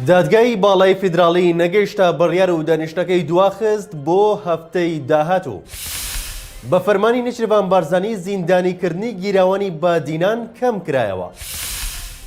دادگای باڵای فیدراڵی نەگەیشتە بڕیار و دانیشتەکەی دواخست بۆ هەفتەی داهاتوو. بە فەرمانی نچرڤان بارزانی زیندانیکردنی گیراوانی بادینان کەم کرایەوە.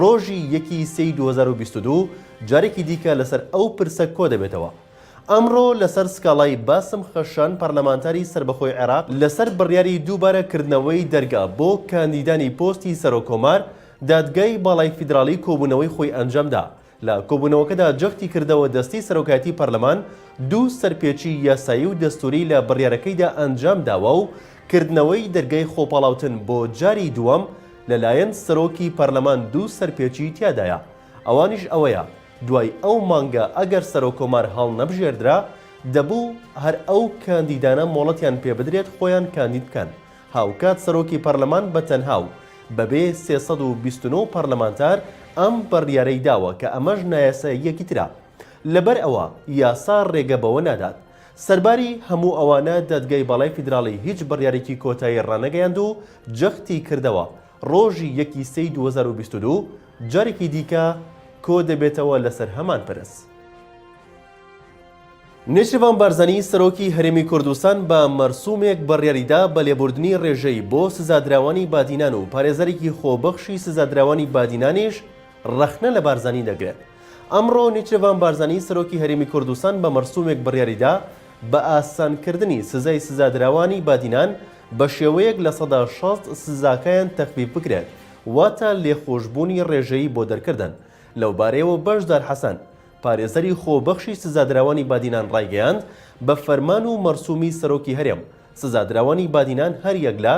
ڕۆژی یەکی سێی دوو هەزار و بیست و دوو جارێکی دیکە لەسەر ئەو پرسە کۆدەبێتەوە. ئەمڕۆ لەسەر سکاڵای باسم خەشان پەرلەمانتاری سەربەخۆی عێراق لەسەر بڕیاری دووبارە کردنەوەی دەرگا بۆ کاندیدانی پۆستی سەرۆککۆمار، دادگای باڵای فیدراڵی کۆبوونەوەی خۆی ئەنجامدا لە کۆبوونەوەکەدا جەختی کردەوە دەستەی سەرۆکایەتی پەرلەمان دوو سەرپێچی یاسایی و دەستووری لە بڕیارەکەیدا ئەنجام داوە و کردنەوەی دەرگای خۆپاڵاوتن بۆ جاری دووەم لەلایەن سەرۆکی پەرلەمان دوو سەرپێچی تیادایە ئەوانیش ئەوەیە دوای ئەو مانگە ئەگەر سەرۆککۆمار هەڵنەبژێردرا دەبوو هەر ئەو کاندیدانە مۆڵەتیان پێبدرێت خۆیان کاندید بکەن هاوکات سەرۆکی پەرلەمان بە تەنها و بەبێ سێ سەد و بیست و نۆ پەرلەمانتار ئەم بڕیارەی داوە کە ئەمەش نایاساییەکی ترە لەبەر ئەوە یاسا رێگە بەوە نادات سەرباری هەموو ئەوانە دادگای باڵای فیدراڵی هیچ بڕیارێکی کۆتایی رانەگەیاند و جەختی کردەوە رۆژی یەک ی سێی دوو هەزار و بیست و دوو جارێکی دیکە کۆدەبێتەوە لەسەر هەمان پرس. نێچیرڤان بارزانی سەرۆکی هەرێمی کوردستان بە مەرسومێک بڕیاریدا بە لێبوردنی رێژەی بۆ سزادراوانی بادینان و پارێزەرێکی خۆبەخشی سزادراوانی بادینانیش رەخنە لە بارزانی دەگرێت. ئەمڕۆ نێچیرڤان بارزانی سەرۆکی هەرێمی کوردستان بە مەرسومێک بڕیاریدا بە ئاسانکردنی سزای سزادراوانی بادینان بە شێوەیەک لە سەدا شەست سزاکایان تەخفیف بکرێت واتە لێخۆشبوونی رێژەیی بۆ دەرکردن لەوبارەیەوە بەشدار حەسەن پارێزەری خۆبەخشی سزادراوانی بادینان ڕایگەیاند، بە فەرمان و مەرسوومی سەرۆکی هەرێم، سزادراوانی بادینان هەریەک لە،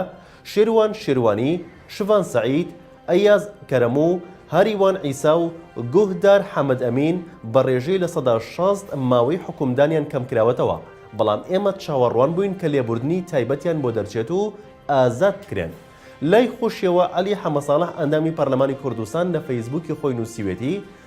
شێروان شێروانی، شڤان سەعید، ئەیاز کەرەم و هاریوان عیسا و گوهدار حەمەد ئەمین، بە ڕێژەی لە سەدا شەست ماوەی حوکمدانیان کەمکراوەتەوە، بەڵام ئێمە چاوەڕوان بووین کە لێبوردنی تایبەتیان بۆ دەرچێت و ئازاد بکرێن. لای خۆشیەوە عەلی حەمەساڵح ئەندامی پەرلەمانی کوردستان لە فەیسبووکی خۆی نووسیوێتی،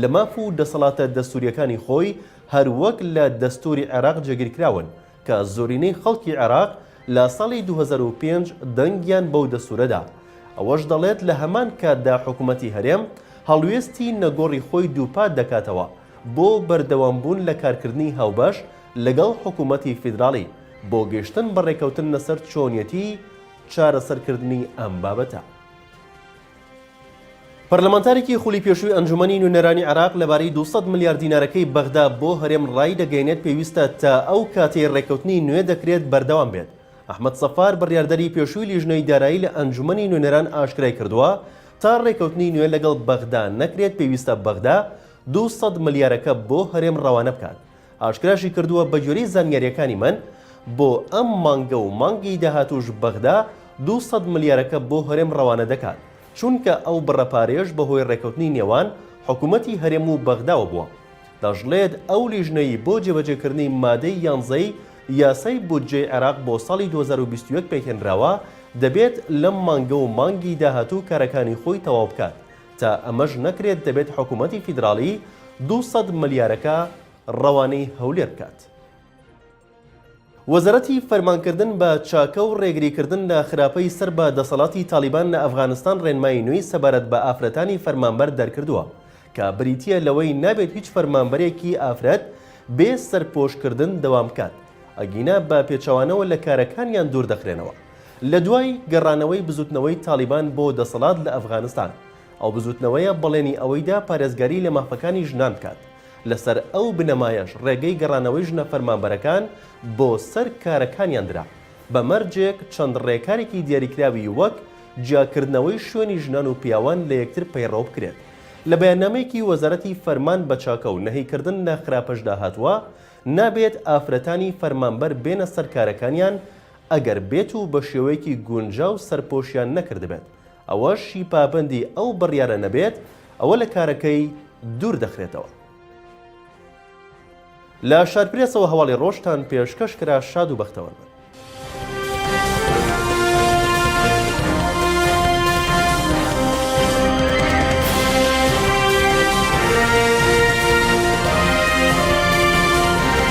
لە ماف و دەسەڵاتە دەستوورییەکانی خۆی، هەر وەک لە دەستووری عێراق جێگیرکراون، کە زۆرینەی خەڵکی عێراق لە ساڵی دوو هەزار و پێنج دەنگیان بەو دەستوورە دا. ئەوەش دەڵێت لە هەمان کاتدا حکوومەتی هەرێم هەڵوێستی نەگۆڕی خۆی دووپات دەکاتەوە بۆ بەردەوامبوون لە کارکردنی هاوبەش لەگەڵ حکوومەتی فیدراڵی بۆ گەیشتن بە ڕێککەوتن لەسەر چۆنیەتی چارەسەرکردنی ئەم بابەتە. پەرلەمانتارێکی خولی پێشووی ئەنجومەنی نوێنەرانی عێراق لەبارەی دوو سەد ملیار دینارەکەی بەغدا بۆ هەرێم ڕایدەگەیەنێت پێویستە تا ئەو کاتەی ڕێککەوتنی نوێ دەکرێت بەردەوام بێت. ئەحمەد سەفار بڕیاردەری پێشووی لیژنەی دارایی لە ئەنجومەنی نوێنەران ئاشکرای کردووە، تا ڕێککەوتنی نوێ لەگەڵ بەغدا نەکرێت پێویستە بەغدا دوو سەد ملیارەکە بۆ هەرێم ڕەوانە بکات. ئاشکراشیکردووە، بەگوێرەی زانیارییەکانی من، بۆ ئەم مانگە و مانگی داهاتووش بەغدا دوو سەد ملیارەکە بۆ هەرێم رەوانە دەکات، چونکە ئەو بڕە پارەیەش بەهۆی رێککەوتنی نێوان حکومەتی هەرێم و بەغداوە بووە. دەشڵێت، ئەو لیژنەی بۆ جێبەجێکردنی مادەی یانزەی یاسای بودجەی عێراق بۆ ساڵی دوو هەزار و بیست و یەک پێکهێنراوە، دەبێت لەم مانگە و مانگی داهاتوو کارەکانی خۆی تەواو بکات. تا ئەمەش نەکرێت دەبێت حکوومەتی فیدراڵی دوو سەد ملیارەکە ڕەوانەی هەولێر بکات. وەزارەتی فەرمانکردن بە چاکە و ڕێگریکردن لە خراپەی سەر بە دەسەڵاتی تاڵیبان لە ئەفغانستان ڕێنمایی نوێی سەبارەت بە ئافرەتانی فەرمانبەر دەرکردووە کە بریتییە لەوەی نابێت هیچ فەرمانبەرێکی ئافرەت بێ سەرپۆشکردن دەوام بکات ئەگینا بە پێچەوانەوە لە کارەکانیان دوور دەخرێنەوە. لە دوای گەڕانەوەی بزوتنەوەی تاڵیبان بۆ دەسەڵات لە ئەفغانستان، ئەو بزوتنەوەیە بەڵێنی ئەوەی دا پارێزگاری لە مافەکانی ژنان بکات، لەسەر ئەو بنەمایەش ڕێگەی گەڕانەوەی ژنە فەرمانبەرەکان بۆ سەر کارەکانیان درا، بە مەرجێک چەند ڕێکارێکی دیاریکراوی وەک جیاکردنەوەی شوێنی ژنان و پیاوان لە یەکتر پەیڕەو بکرێت. لە بەیاننامەیەکی وەزارەتی فەرمان بە چاکە و نەهیکردن لە خراپەشدا هاتووە، نابێت ئافرەتانی فەرمانبەر بێنە سەر کارەکانیان، ئەگەر بێت و بە شێوەیەکی گونجاو سەرپۆشیان نەکردبێت، ئەوە شی پابەندی ئەو بڕیارە نەبێت، ئەوە لە کارەکەی دوور دەخرێتەوە. لە شارپرێسەوە هەواڵی ڕۆژتان پێشکەش کرا شاد و بەختەوەر بن.